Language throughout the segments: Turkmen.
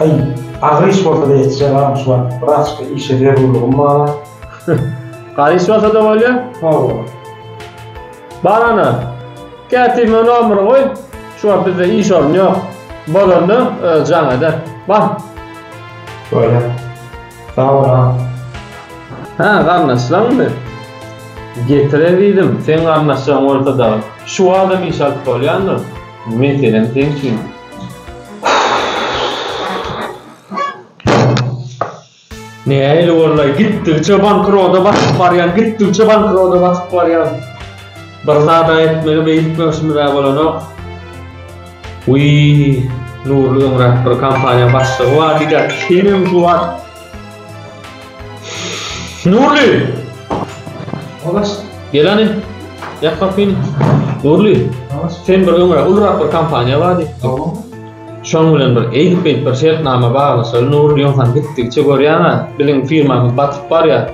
Aý, agyr iş bolsa-da ýetişer agam şu wagt, wraçka işe zerurlygym bar-a. Gaýy iş bolsa-da bolýa? Hawa. Bar ana, kätime nomery goý, şu wagt bizde iş orny ýok. Bolanda özi jaň eder. Bar. Bolýar. Sag bol agam. Hä, garyndaşlaňmy? Getir ezizim, seň garyndaşlaň bolsa dagy. Şu wagtam iş alyp bolýandyr. Meselem seň üçin. Nähili bolay, gitdigiçe bankroda batyp barýan, gitdigiçe bankroda batyp barýan. Bir zada etmeli beýtmemişimiz-ä bolanok. Wiý, Nurly öňräk bir kompaniýa başlygy bar diýýär. Senem şu wagt Nurly! Obaş. Gelani. Ýap gapyny. Nurly. Obaş. Sen bir öňe ulrak bir kompaniýa bardy. Obaş. Şoň bilen bir eýdip beýdip bir şertnama baglaşaly Nurly ýogsam gitdigiçe görýäňä biziň firmamyz batyp barýar.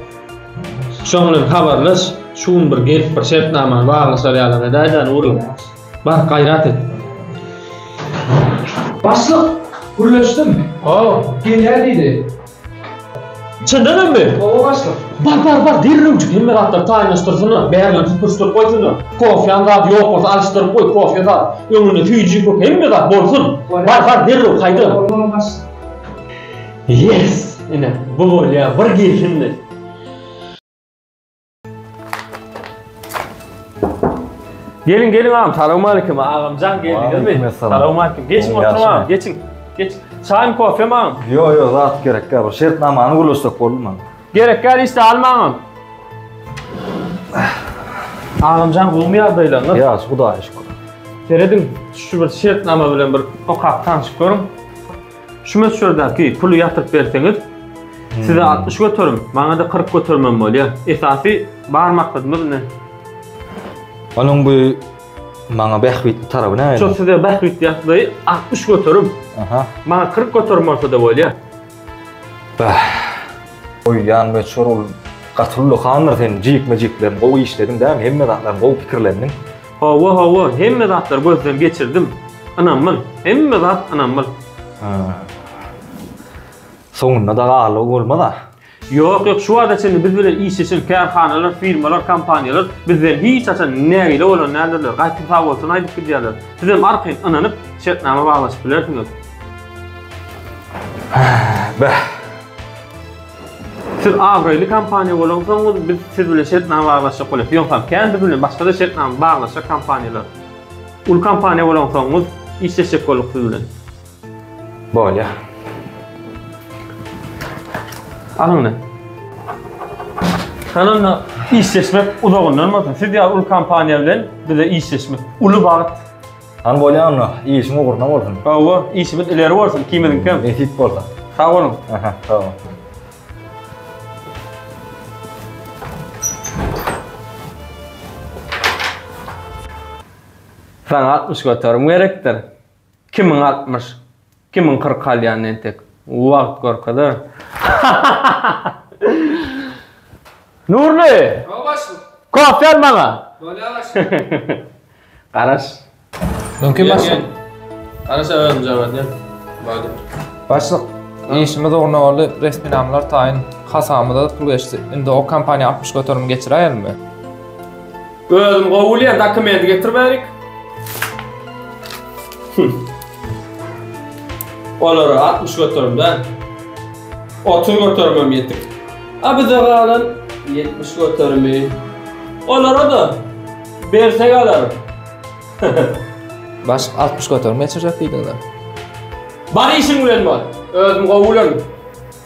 Şoň bilen habarlaş şu gün bir gelip bir şertnamany baglaşar ýalam edäýdä Nurly. Bar gaýrat et. Başlyk! Gürleşdim. Haw. Gelýär diýdi. Çyndanamy? Hawa, başlyk. Bar, bar, bar, derrewjik hemme zatlary taýynlaşdyrsynlar, bärinden süpürişdirip goýsunlar. Kofýaň zady ýok bolsa, alyşdyryp goý, kofýa zat, öňünde süýji, köke, hemme zat bolsun. Bar, bar, derrew, haýda! Bolmaly, başlyk. Ýes! Ine, bu bolýar bir gelşindi. Gelin gelin ağam, salam aleyküm ağam can geldiniz mi? Salam aleyküm. Geçin oturma ağam, geçin. Geç. Çay mı kofe mi ağam? Yo yo zat gerek ya. Şert namanı gülüşsek oldu mu? Gerek gel işte alma ağam. Ağam can gulmi yazdayla. Nasıl? Ya şu da aşkı. Seredin şu bir şert nama bilen bir okap tanışıp görün. Şu möçberdäki puly ýatyryp berseňiz, size 60 göterim, maňa-da 40 göterimem bolýar. Esasy bar maksadymyz indi. Onuň bu maňa bähbitli taraby näme? Şu size bähbitli ýagdaýy 60 göterim. Aha. Maňa 40 göterim bolsa-da bolýar. Bah. Goýýan möçber ol gaty ullakandyr sen jikme-jiklerini gowy işlediň dämi? Hemme zatlaryny gowy pikirlendiň. Hawa hawa hemme zatlar gözden geçirdim. Ynamyl, hemme zat ynamyl. Soňunda da garlygy bolmaz-a. Ýok ýok şu wagta çenli biz bilen işleşen kärhanalar, firmalar, kompaniýalar bizden hiç haçan nägile bolan däldirler, gaýtam sag bolsun aýdyp gidýärler. Sizem arkaýyn ynanyp şertnama baglaşyp bilersiňiz. Beh. Siz abraýly kompaniýa bolaňsoňyz, biz siz bilen şertnama baglaşjak bolarys. Ýogsam, kän biz bilen başga-da şertnama baglaşjak kompaniýalar. Uly kompaniýa bolansoňyz, işleşjek bolduk siz bilen. Bolýar. Alyň indi. Şonda işleşmek uzagyndan bolsun. Siz ýaly uly kompaniýa bilen bize işleşmek uly bagt. Hany bolýa onda, işiň ugruna bolsun. Hawa, işimiz ileri bolsun ikimiziňkem. Nesip bolsa. Sag boluň. Aha, sag bol. Saňa altmyş göterim gerekdir. Kimiň altmyş? Kimiň kyrk alýanyny entek wagt görkezer. Nurly! Hawa başlyk. Kofe al maňa. Bolýar başlyk. Garaş. Mümkin başlyk. Garaş özüm jogap berýän. Bady. Başlyk, işimiz ugruna boldy, resminamalar taýyn, hasabymyza-da pul geçdi. Indi o kompaniýa altmyş göterim geçiräýermi? Özüm gowul ya dokument getir berik. Olara 60 götürüm da. 30 götürmem yetik. Abi de galan 70 götürümü. Olara da berse galarım. Baş 60 götürüm geçirjek diýdiňiz. Bar işin bilen bar. Özüm gowulan.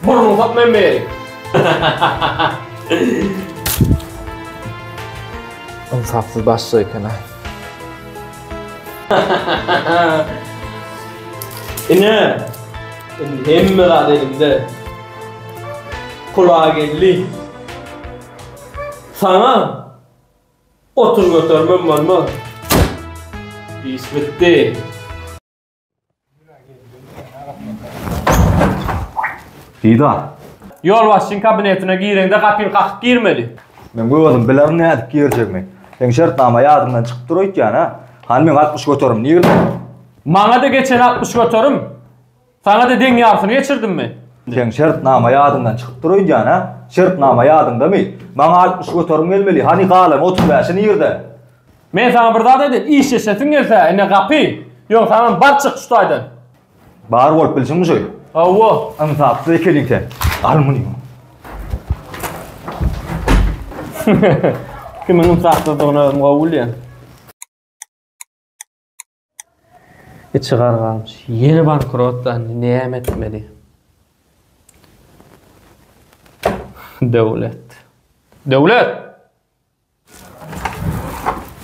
Burnuň sokma emme ýeri. Ynsapsyz başlyk eken-aý. Ine, indi hemme zat elimde. Pula geldi. Saňa otur götermem bolmaz. Iş bitdi. Hida. Ýolbaşçyň kabinetine gireňde gapyny kakyp girmeli. Men özüm bilerin nädip girjegimi. Seň şertnama ýadyňdan çykyp dur öýtýän, hä? Hany meň altmyş göterim nirde? Maňa-da geçen altmyş göterim. Saňa-da deň ýarysyny geçirdim men. Seň şertnama ýadyňdan çykyp dur öýdýän, hä? Şertnama ýadyňdamy? Maňa altmyş göterim gelmeli. Hany galan otuz bäşi nirde? Men saňa bir zat aýdaýyn, işleşesiň gelse, ine gapy. Ýöne saňam bar çyk şu taýdan. Bar bolup bilsin bu şeýle. Hawa. Ynsapsyz ekeniň sen. Al muny. Kimiň ynsapsyzdygyny özüm gowy bilýän. Içi gargamyş. Ýene bankrotlandy. Näme etmeli? Döwlet. Döwlet!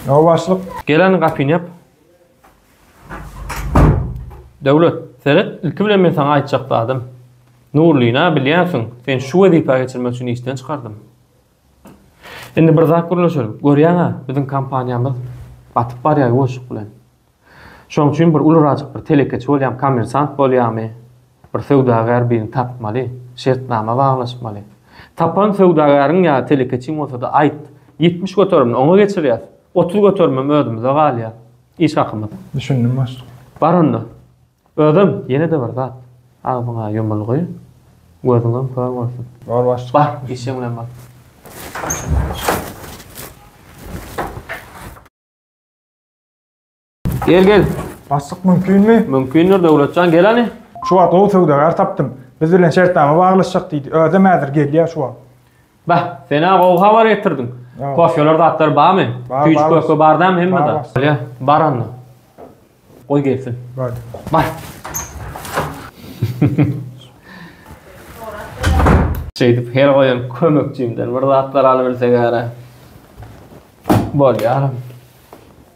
Ýa başlyk. Gelen gapyny ýap. Döwlet, seret, ilki bilen men saňa aýtjak zadym. Nurlyny-a bilýänsiň, seni şu wezipä geçirmek üçin işden çykardym. Indi bir zat gürleşelim. Görýäň-ä, biziň kompaniýamyz batyp barýar ýuwaşlyk bilen. Şonuň üçin bir ulurajyk bir telekeçi bolýamy, kommersant bolýamy, bir söwdagär birini tapmaly, şertnama baglaşmaly. Tapan söwdagäriň ýa telekeçiň bolsa-da aýt, ýetmiş göterimini oňa geçirýäs, otuz göterimem özümize galýar. Iş hakymyz. Düşündim başlyk. Bar onda. Özem ýene-de bir zat. Agzyňa ýumulgy, gözüňem kör bolsun. Bor başlyk. Bar, işeň bilen bor. Gel, gel. Başlyk mümkinmi? Mümkindir, Döwletjan, gel hany. Şu wagt gowy söwdagär tapdym. Biz bilen şertnama baglaşjak diýdi. Özem häzir gelýär şu wagt. Bah, sen-ä gowy habar getirdiň. Kofeler, zatlar barmy? Tüýjük köke bar dämi hemmede? Bolýa, bar onda. Goý gelsin. Bar. Bar. Şeýdip her goýan kömekçimden bir zatlar alybilsek-ä. Bolýa.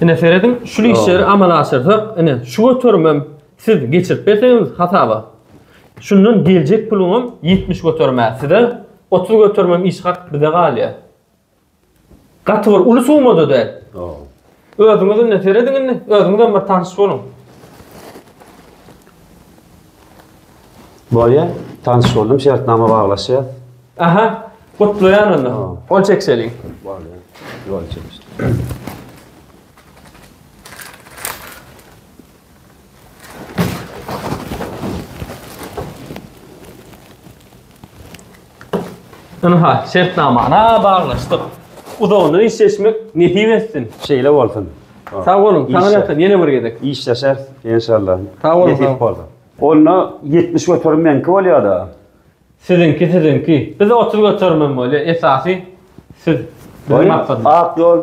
Ine serediň, şu işleri amala aşyrsak, ine şu göterimem siz geçirip berseňiz hasaba, şundan geljek puluňam ýetmiş göterim-ä size, otuz göterimem iş hak bize galýar. Gaty bir uly summa-da däl. Özüňiz indi serediň indi, özüňizem bir tanyş boluň. Bolýa tanyş boldum şertnama baglaşýas. Aha gutlaýan onda. Gol çekseliň. Bolýa. Gol çekseliň. Ynha, şertnamany baglaşdyk. Uzagyndan işleşmek nesip etsin. Şeýle bolsun. Sag boluň, saňalyasyn, ýene bir gezek. Işleşer, enşallah. Sag boluň, sag boluň. Onda 70 göterim meňki bolýar-da. Siziňki, siziňki. Biz 30 göterimem bolýar, esasy siz. Ak ýol.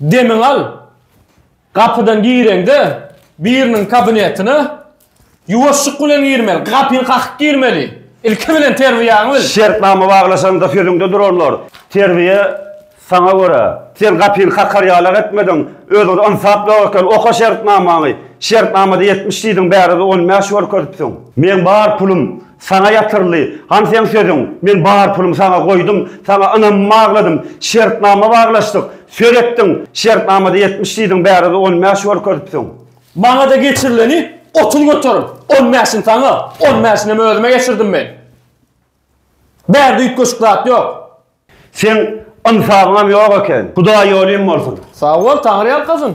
Demiňi al. Gapydan gireňde, biriniň kabinetine ýuwaşlyk bilen girmeli, gapyny kakyp girmeli. Ilki bilen terbiýäňi bil. Şertnama baglaşanda sözüňde duranlar, terbiýe saňa görä. Sen gapyny kakar ýalak etmediň, özüňde ynsap ýok eken, oka şertnamaňy. Şertnamada ýetmiş diýdiň, bärde-de on bäş görkezipsiň. Meň bar pulum, Saňa ýatyrly, han seň sözüň, men bar pulumy saňa goýdum, saňa ynamymy bagladym, şertnama baglaşdyk, söz etdiň, şertnamada ýetmiş diýdiň, bärde-de on bäş görkezipsiň. Maňa-da geçirileni otuz göterim, on bäşini saňa, on bäşinem özüme geçirdim men. Bärde üýtgeşik zat ýok. Seň ynsabyňam ýok eken. Hudaý ýolyň bolsun. Sag bol, Taňry ýalkasyn.